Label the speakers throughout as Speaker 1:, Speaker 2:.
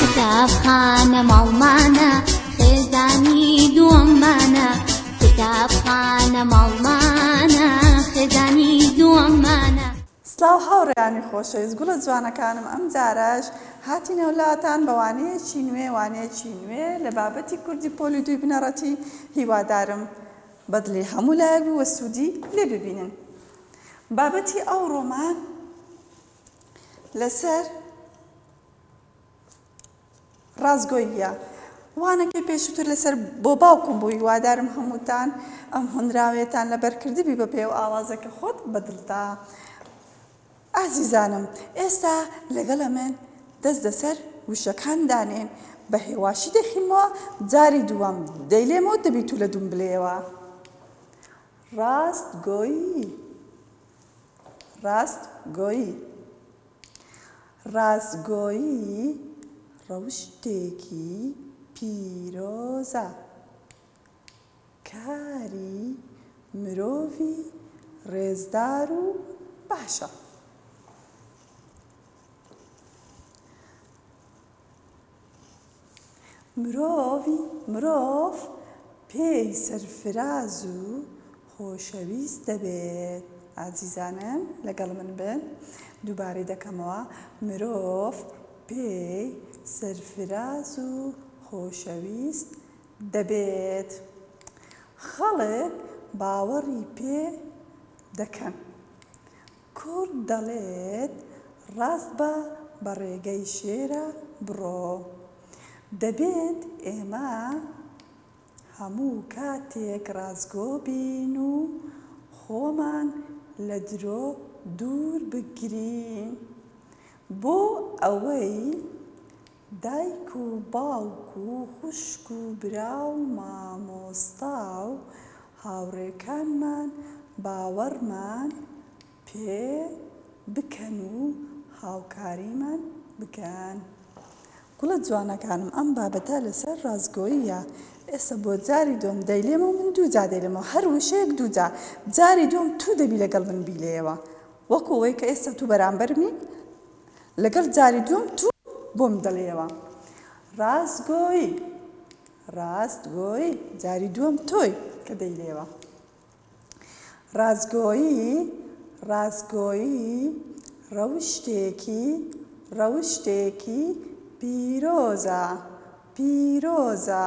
Speaker 1: کتابخانە ماڵمانە خێزانی دووەممانە کتابخانە ماڵمانە خێزانی دووەممانە سلااو
Speaker 2: هاوڕێیانی خۆشەویست گوڵە جوانەکانم ئەم جارەش هاتی نەولاتان بەوانەیەکی نوێ وانەیەکی نوێ لە بابەتی کوردی پۆلی دوی بنەڕەتی هیوادارم بەدلی هەموو لایەک بووە سوودی لێ ببینن بابەتی ئەو ڕۆمان لەسەر ڕاستگۆییە. وانەکەی پێشووتر لەسەر بۆ باوکم بووی وادارم هەمووتان ئەم هۆنراوەیەتان لەبەر کردبی بە پێو ئاوازەکە خۆت بەدڵتا ئازیزانم ئێستا لەگەڵ ئەمن دەست دەسەر وشەکان دانێن بە هێواشی دەخینمەوە جاری دووەم دەیلێمەوە دەبی تو لە دوم بلێەوە ڕاست گۆیی ڕاستگۆیی، ڕاستگۆیی ڕەوشتێکی پیرۆزە، کاری مرۆڤی ڕێزدار و باشە. مرۆڤی مرۆڤ پێی سەرفراز و خۆشەویست دەبێت ئازیزانم لەگەڵ من بن دووبارەی دەکەمەوە مرۆڤ پێی سەرفراز و خۆشەویست دەبێت خەڵک باوەڕی پێ دەکەن کورد دەڵێت ڕاست بە بە ڕێگەی شێرە بڕۆ. دەبێت ئێمە هەموو کاتێک ڕاستگۆ بین و خۆمان لە درۆ دوور بگرین بۆ ئەوەی دایک و باوک و خوشک و برا و مامۆستا و هاوڕێکانمان باوەڕمان پێ بکەن و هاوکاریمان بکەن. گوڵە جوانەکانم ئەم بابەتە لەسەر ڕاستگۆییە ئێستا بۆ جاری دووەم دەیلێمەوە من دوو جار دەیلێمەوە هەر وشەیەک دوو جار جاری دووەم تو دەبی لەگەڵ من بیلێیەوە وەکو ئەوەی کە ئێستا تو بەرامبەرمی لەگەڵ جاری دووەم تو بۆم دەڵێیەوە ڕاست گۆی ڕاست گۆی جاری دووەم تۆی کە دەیلێوە ڕاستگۆیی ڕاستگۆیی ڕەوشتێکی ڕەوشتێکی پیرۆزە پیرۆزە.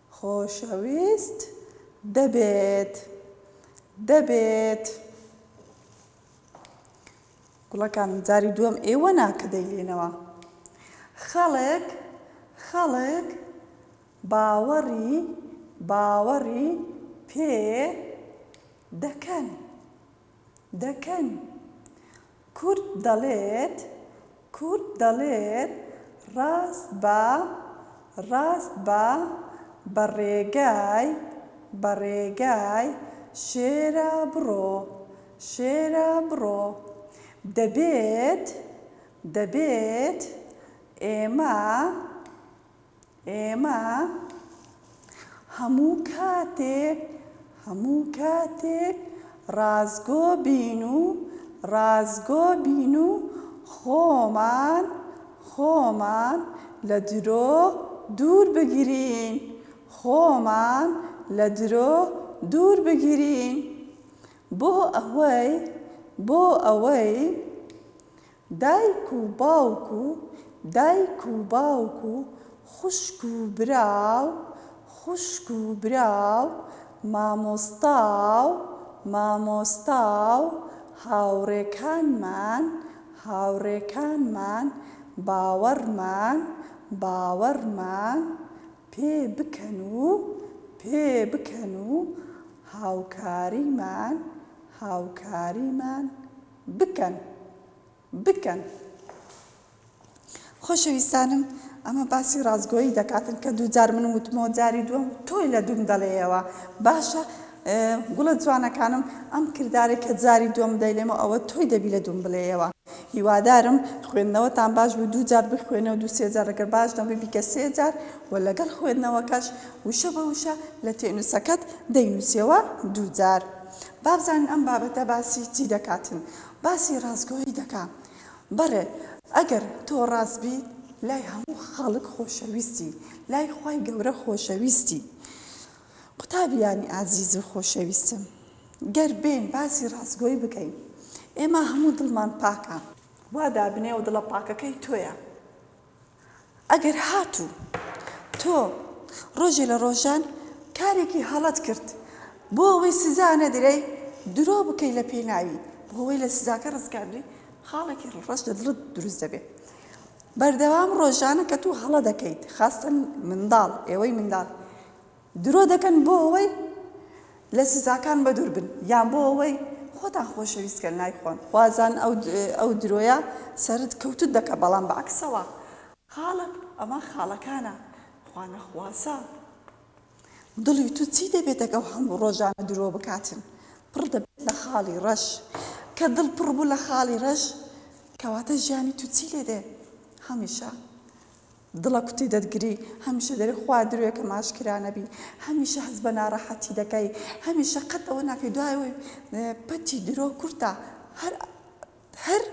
Speaker 2: خۆشەویست دەبێت دەبێت. گوڵەکانم جاری دووەم ئێوە نا کە دەیلێنەوە خەڵک خەڵک باوەڕی باوەڕی پێ دەکەن. دەکەن. کورد دەڵێت، کورد دەڵێت ڕاست بە، ڕاست بە، بە ڕێگای، بە ڕێگای شێرا بڕۆ، شێرا بڕۆ. دەبێت، دەبێت ئێمە. ئێمە هەموو کاتێک هەموو کاتێک ڕاستگۆ بین و ڕاستگۆ بین و خۆمان خۆمان لە درۆ دوور بگرین خۆمان لە درۆ دوور بگرین بۆ ئەوەی بۆ ئەوەی دایک و باوک و دایک و باوک و خوشک و برا و خوشک و برا و مامۆستا و مامۆستا و هاوڕێکانمان هاوڕێکانمان باوەڕمان باوەڕمان پێ بکەن و پێ بکەن و هاوکاریمان هاوکاریمان بکەن بکەن. خۆشەویستانم ئەمە باسی ڕاستگۆیی دەکاتن کە دوو جار من وتمەوە جاری دووەم تۆی لە دووم دەڵێیەوە باشە گوڵە جوانەکانم ئەم کردارێک کە جاری دووەم دەیلێمەوە ئەوە تۆی دەبی لە دووم بڵێیەوە هیوادارم خوێندنەوەتان باش بوو دوو جار بخوێنەوە دوو سێ جار ڕگەر باش نەبووی بیکە سێ جار و لەگەڵ خوێندنەوەکەش وشە بە وشە لە تێنووسەکەت دەینووسیەوە دوو جار با بزانین ئەم بابەتە باسی چی دەکاتن باسی ڕاستگۆیی دەکا بەڕێ ئەگەر تۆ ڕاست بیت لای هەموو خەڵک خۆشەویستی لای خوای گەورە خۆشەویستی قوتابیانی ئازیز و خۆشەویستم گەر بێن باسی ڕاستگۆی بکەین ئێمە هەموو دڵمان پاکە وا دابنێ و دڵە پاکەکەی تۆیە. ئەگەر هاتوو تۆ ڕۆژێ لە ڕۆژان کارێکی هەڵەت کرد بۆ ئەوەی سزا نەدرێی درۆ بکەی لە پێناوی بۆ ئەوەی لە سزاکە ڕزگاربی خاڵێکی ڕەش لە دڵت دروست دەبێت بەردەوام ڕۆژانە کە تۆ هەڵە دەکەیت خاستن منداڵ ئێوەی منداڵ درۆ دەکەن بۆ ئەوەی لە سزاکان بەدوور بن یان بۆ ئەوەی خۆتان خۆشەویست کەن نایخۆن. خوازان ئەو درۆیە سەرت کەوتت دەکە بەڵام بە عەکسەوە. خاڵک ئەمە خاڵەکانە خوا نەخواسە دڵی تو چی دەبێت ئەگە ئەو هەموو ڕۆژانە درۆ بکاتن پڕ دەبێت لە خاڵی ڕەش کە دڵ پڕ بوو لە خاڵی ڕەش کەواتە ژیانی تو چی لێدێ هەمیشە دڵە کوتی دەتگری هەمیشە دەرێ خوا درۆیە کەم ئاشکرا نەبی هەمیشە هەست بە ناڕەحەتی دەکەی هەمیشە قەت ئەوە ناکەی دوای ئەوەی پەتی درۆ کورتە هەر هەر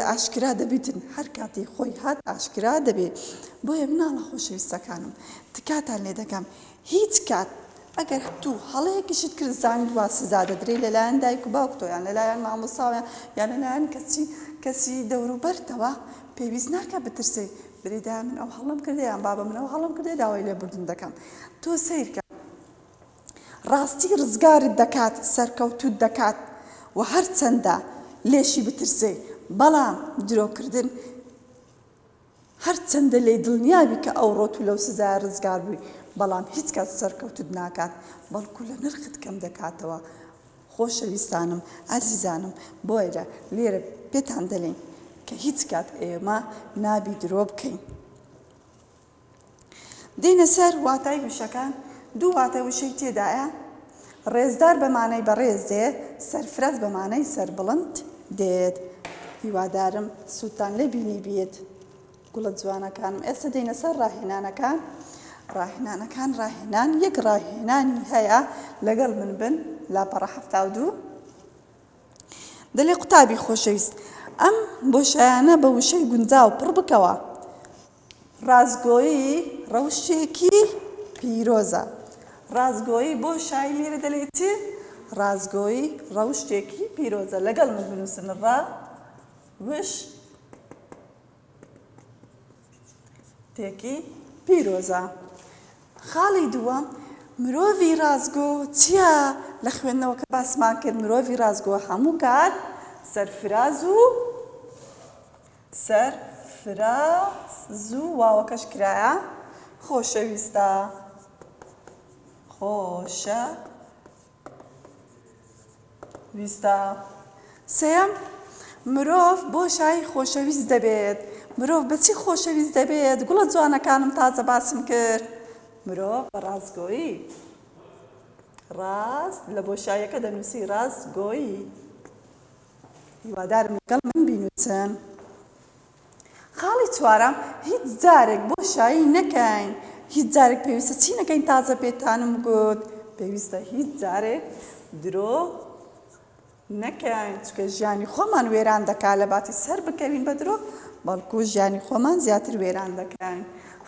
Speaker 2: ئاشکرا دەبیتن هەر کاتی خۆی هات ئاشکرا دەبێ بۆیە مناڵە خۆشەویستەکانم تکاتان لێ دەکەم هیچ کات ئەگەر تو هەڵەیەکیشت کرد زانیت وا سزا دەدرێی لەلایەن دایک و باوکتەوە یان لەلایەن مامۆستاوە یان لەلایەن کەچی کەسی دەوروبەرتەوە پێویست ناکا بترسێی بری دایە من ئەو هەڵەم کردە یان بابە من ئەو هەڵەم کردە داوای لێبوردن دەکەم تۆ سەیرکە ڕاستی ڕزگارت دەکات سەرکەوتوت دەکات و هەرچەندە لێشی بترسێی بەڵام درۆکردن هەرچەندە لێی دڵنیابی کە ئەوڕۆ تو لەو سزایە ڕزگار بووی بەڵام هیچ کات سەرکەوتوت ناکات بەڵکو لە نرخت کەم دەکاتەوە خۆشەویستانم ئازیزانم بۆیە لێرە پێتان دەلێین کە هیچ کات ئێمە نابی درۆ بکەین. دێینە سەر واتای وشەکان، دوو واتە وشەی تێدایە، ڕێزدار بە مانای بەڕێز دێت، سەرفرەز بە مانای سەربڵند دێت. هیوادارم سوودتان لێ بینیبێت گوڵە جوانەکانم. ئێستا دێینە سەر ڕاهێنانەکان. ڕاهێنانەکان ڕاهێنان یەک ڕاهێنانی هەیە لەگەڵ من بن لاپەڕە حەفتا و دوو دەلێ قوتابی خۆشەویست ئەم بۆشایانە بە وشەی گونجاو پڕ بکەوە ڕاستگۆیی ڕەوشتێکی پیرۆزە. ڕاستگۆیی بۆ شای میرە دەلێی چی؟ ڕاستگۆیی ڕەوشتێکی پیرۆزە. لەگەڵ من بنووسن ڕا وش تێکی پیرۆزە. خاڵی دووەم مرۆڤی ڕاستگۆ چییە لە خوێندنەوە کە باسمان کرد مرۆڤی ڕاستگۆ هەموو کات سەرفراز و سەر فرە زوو واوەکەش کرایە خۆشەویستە خۆشە ویستە سێیەم مرۆڤ بۆ شای خۆشەویست دەبێت مرۆڤ بەچی خۆشەویست دەبێت گوڵە جوانەکانم تازە باسم کرد مرۆڤ بە ڕاستگۆیی ڕاست لە بۆ شایەکە دەنووسی ڕاستگۆیی هیوادارم لەگەڵ من بینوسن. خاڵی چوارەم هیچ جارێک بۆشایی نەکەین هیچ جارێک پێویستە چی نەکەین تازە پێتانم گوت پێویستە هیچ جارێک درۆ نەکەین چکە ژیانی خۆمان وێران دەکا لە باتی سەر بکەوین بە درۆ بەڵکو ژیانی خۆمان زیاتر وێران دەکەین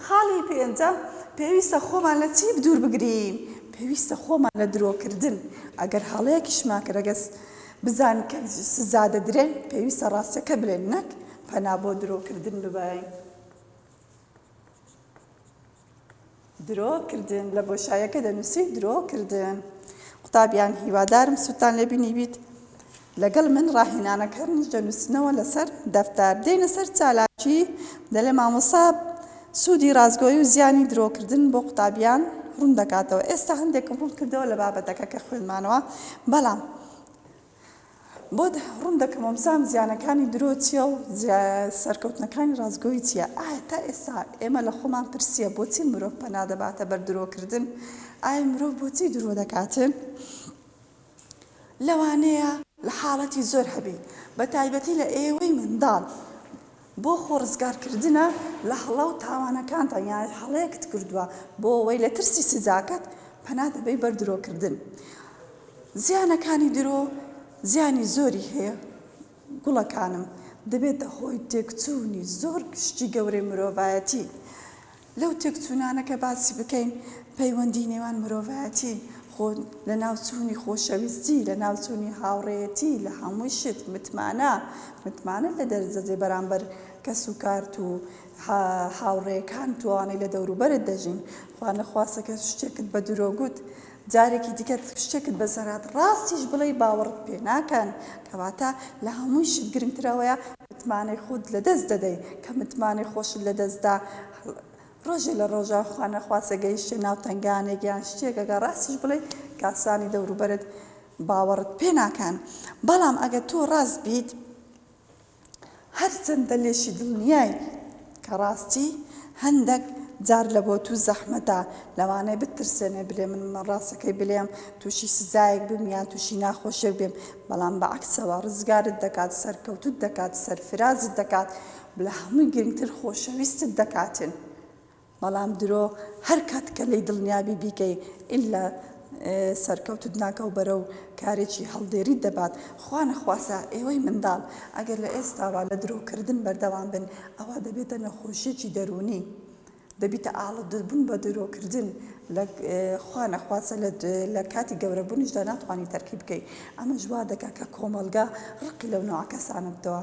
Speaker 2: خاڵی پێنجە پێویستە خۆمان لە چی دوور بگرین پێویستە خۆمان لە درۆکردن ئەگەر هەڵەیەکیشمان کرەگەس بزانن کە سزا دەدرێن پێویستە ڕاستەکە بلێن نەک پەنا بۆ درۆ کردن ببەین. درۆ کردن لە بۆشایەکە دەنووسی درۆ کردن قوتابیان هیوادارم سووتان لێ بینیبیت لەگەڵ من ڕاهێنانەکانیش دەنووسنەوە لەسەر دەفتار دێنە سەر چالاکی دەلێ مامۆسا سوودی ڕاستگۆیی و زیانی درۆکردن بۆ قوتابیان ڕوون دەکاتەوە. ئێستا هەندێکم ڕوون کردەوە لە بابەتەکە کە خوێندمانەوە، بەڵام بۆت ڕوون دەکەمەوە بزانم زیانەکانی درۆ چییە و سەرکەوتنەکانی ڕاستگۆیی چییە. ئایا تا ئێستا ئێمە لە خۆمان پرسییە بۆچی مرۆڤ پەنا دەباتە بەر درۆکردن؟ ئایا مرۆڤ بۆچی درۆ دەکات؟ لەوانەیە لە حاڵەتی زۆر هەبی بە تایبەتی لە ئێوەی منداڵ بۆ خۆ ڕزگار کردنە لە هەڵە و تاوانەکانتان یان هەڵەیەکت کردووە بۆ وەی لە ترسی سزاکەت پەنا دەبەی بەر درۆ کردن زیانەکانی درۆ زیانی زۆری هەیە گوڵەکانم دەبێتە هۆی تێکچوونی زۆر شتی گەورەی مرۆڤایەتی. لەو تێکچوونانە کە باسی بکەین، پەیوەندیی نێوان مرۆڤایەتی، خۆ لەناوچوونی، خۆشەویستی، لەناوچوونی هاوڕێیەتی لە هەموو شت، متمانە، متمانەت لە دەرزەجێ بەرامبەر کەسوکارت و هاوڕێیەکانت و ئەوانەی لە دەوروبەرت دەژین، خوانەخواستە کە شتێکت بە درۆ گوت، جارێکی دیکە شتێکت بەسەرهات ڕاستیش بڵێی باوەڕت پێ ناکەن کەواتە لە هەمووی شت گرنگتر ئەوەیە متمانەی خوت لەدەست دەدەی کە متمانەی خۆشت لەدەست دا ڕۆژێ لە ڕۆژان خوا نەخواستە گەیشتە ناو تەنگانێک یان شتێک ئەگەر ڕاستیش بڵێی کاسانی دەوروبەرت باوەڕت پێ ناکەن بەڵام ئەگەر تۆ ڕاست بیت هەرچەندە لێشی دڵنیای کە ڕاستی هەندەک جار لە بۆ تو زەحمەتە لەوانەیە بتترسێنێ بلێ من من ڕاستەکەی بلێم توشی سزایەک بم یان توشی ناخۆشیەک بێم بەڵام بە عەکسەوە ڕزگارت دەکات سەرکەوتوت دەکات سەرفرازت دەکات لە هەموی گرنگتر خۆشەویستت دەکاتن بەڵام درۆ هەر کاتکە لێی دڵنیابی بیکەی ئیلا سەرکەوتت ناکەو بەرەو کارێکی هەڵدێریت دەبات خوا نەخواسا ئێوەی منداڵ ئەگەر لە ئێستاوە لە درۆ کردن بەردەوام بن ئەوا دەبێتە نەخۆشیەکی دەروونی دەبیتە ئاڵۆدە بوون بە درۆ کردن لە خوا نەخواسە لە کاتی گەورە بوونیشدا ناتوانی تەرکی بکەی ئەمەش وا دەکا کە کۆمەڵگا ڕقی لەو نەوە کەسانە بتەوە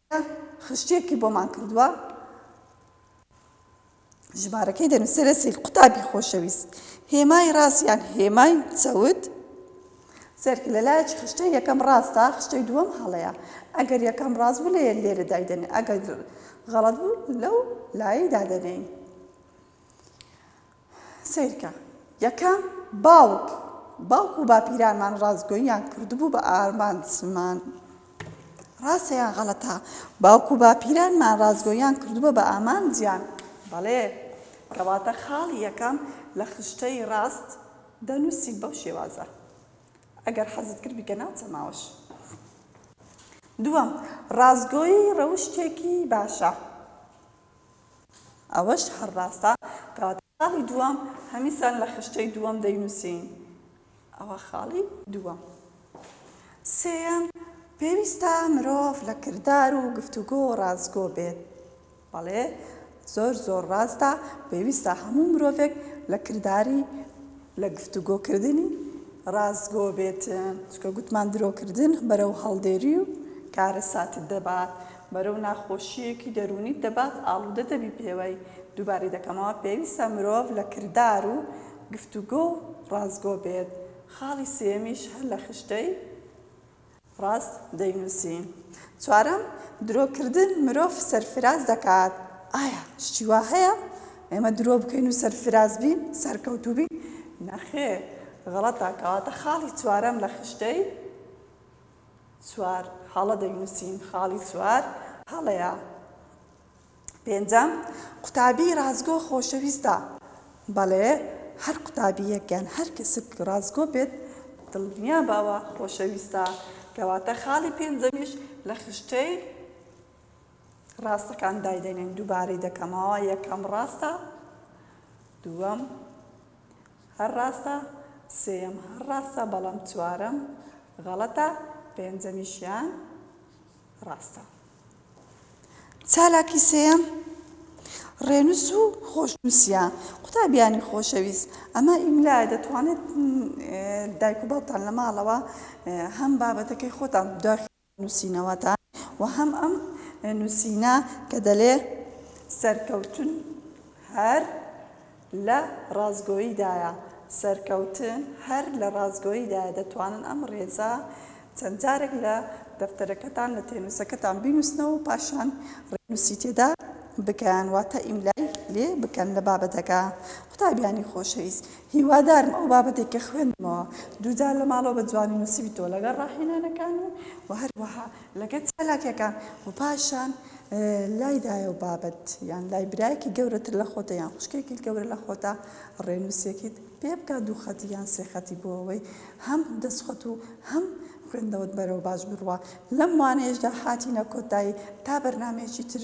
Speaker 2: کە خشتێکی بۆمان کردووە ژمارەکەی دەنووسێرە سید قوتابی خۆشەویست هێمای ڕاست یان هێمای چەوت سەرکە لە لایەکی خشتە یەکەم ڕاستە خشتەی دووەم هەڵەیە ئەگەر یەکەم ڕاست بوو لە لێرە دایدەنێ ئەگەر غەڵەت بوو لەو لای دادەنێین سەیرکە، یەکەم، باوک، باوک و باپیرانمان ڕاستگۆییان کردبوو بە ئارمانجمان. ڕاستە یان غەڵەتە؟ باوک و باپیرانمان ڕاستگۆییان کردبووە بە ئامانجیان. بەڵێ. کەواتە خاڵی یەکەم لە خشتەی ڕاست دەنووسین بەو شێوازە. ئەگەر حەزت کرد بیکە ناو چەماوەش. دووەم، ڕاستگۆیی ڕەوشتێکی باشە. ئەوەش هەر ڕاستە کەواتە خاڵی دووەم هەمیسان لە خشتەی دووەم دەینووسین ئەوە خاڵی دووەم سێیەم پێویستە مرۆڤ لە کردار و گفتوگۆ ڕاستگۆ بێت بەڵێ زۆر زۆر ڕاستە پێویستە هەموو مرۆڤێک لە کرداری لە گفتوگۆکردنی ڕاستگۆ بێت چکە گوتمان درۆکردن بەرەو هەڵدێری و کارەساتت دەبات بەرەو ناخۆشییەکی دەروونیت دەبات، ئاڵوودە دەبی پێوەی. دووبارەی دەکەمەوە، پێویستە مرۆڤ لە کردار و گفتوگۆ و ڕاستگۆ بێت. خاڵی سێیەمیش هەر لە خشتەی ڕاست دەینووسی. چوارەم، درۆکردن مرۆڤ سەرفراز دەکات. ئایا شتی وا هەیە ئێمە درۆ بکەین و سەرفراز بین، سەرکەوتوو بین؟ نەخێر، غەڵەتە. کەواتە خاڵی چوارەم لە خشتەی چوار هەڵە دەینووسین، خاڵی چوار هەڵەیە. پێنجەم، قوتابی ڕاستگۆ خۆشەویستە. بەڵێ، هەر قوتابییەک یان هەر کەسێک ڕاستگۆ بێت، دڵنیابە ئەوە خۆشەویستە. کەواتە خاڵی پێنجەمیش لە خشتەی ڕاستەکان دایدەنێین. دووبارەی دەکەمەوە، یەکەم ڕاستە، دووەم، هەر ڕاستە سێیەم هەر ڕاستە بەڵام چوارەم غەڵەتە پێنجەمیشیان ڕاستە. چالاکی سێیەم ڕێنووس و خۆشنووسییە. قوتابیانی خۆشەویست، ئەمە ئیملایە، دەتوانێت دایک و باوکتان لە ماڵەوە هەم بابەتەکەی خۆتان دواخ. نووسینەوەتان و هەم ئەم نووسینە کە دەلێ سەرکەوتن هەر لە ڕاستگۆییدایە، سەرکەوتن هەر لە ڕاستگۆییدایە، دەتوانن ئەم ڕێزە چەند جارێک لە دەفتەرەکەتان لە تێنووسەکەتان بینووسنەوە و پاشان ڕێنووسی تێدا بکەن واتە ئیملای لێ بکەن لە بابەتەکە. قوتابیانی خۆشەویست هیوادارم ئەو بابەتەی کە خوێندمەوە دووجار لە ماڵەوە بە جوانی نووسیبیتەوە لەگەڵ ڕاهێنانەکان و وە هەروەها لەگەل چالاکیەکان و پاشان لای دایە و بابت یان لای برایەکی گەورەتر لە خۆتە یان خوشکێکی گەورە لە خۆتە ڕێنووسێکیت پێ بکە دوو خەتی یان سێ خەتی بۆ ئەوەی هەم دەستخۆت و هەم خوێندەوەت بەرەوە باش بڕوە لەم وانەیەشدا هاتینە کۆتایی تا بەرنمەیەکی تر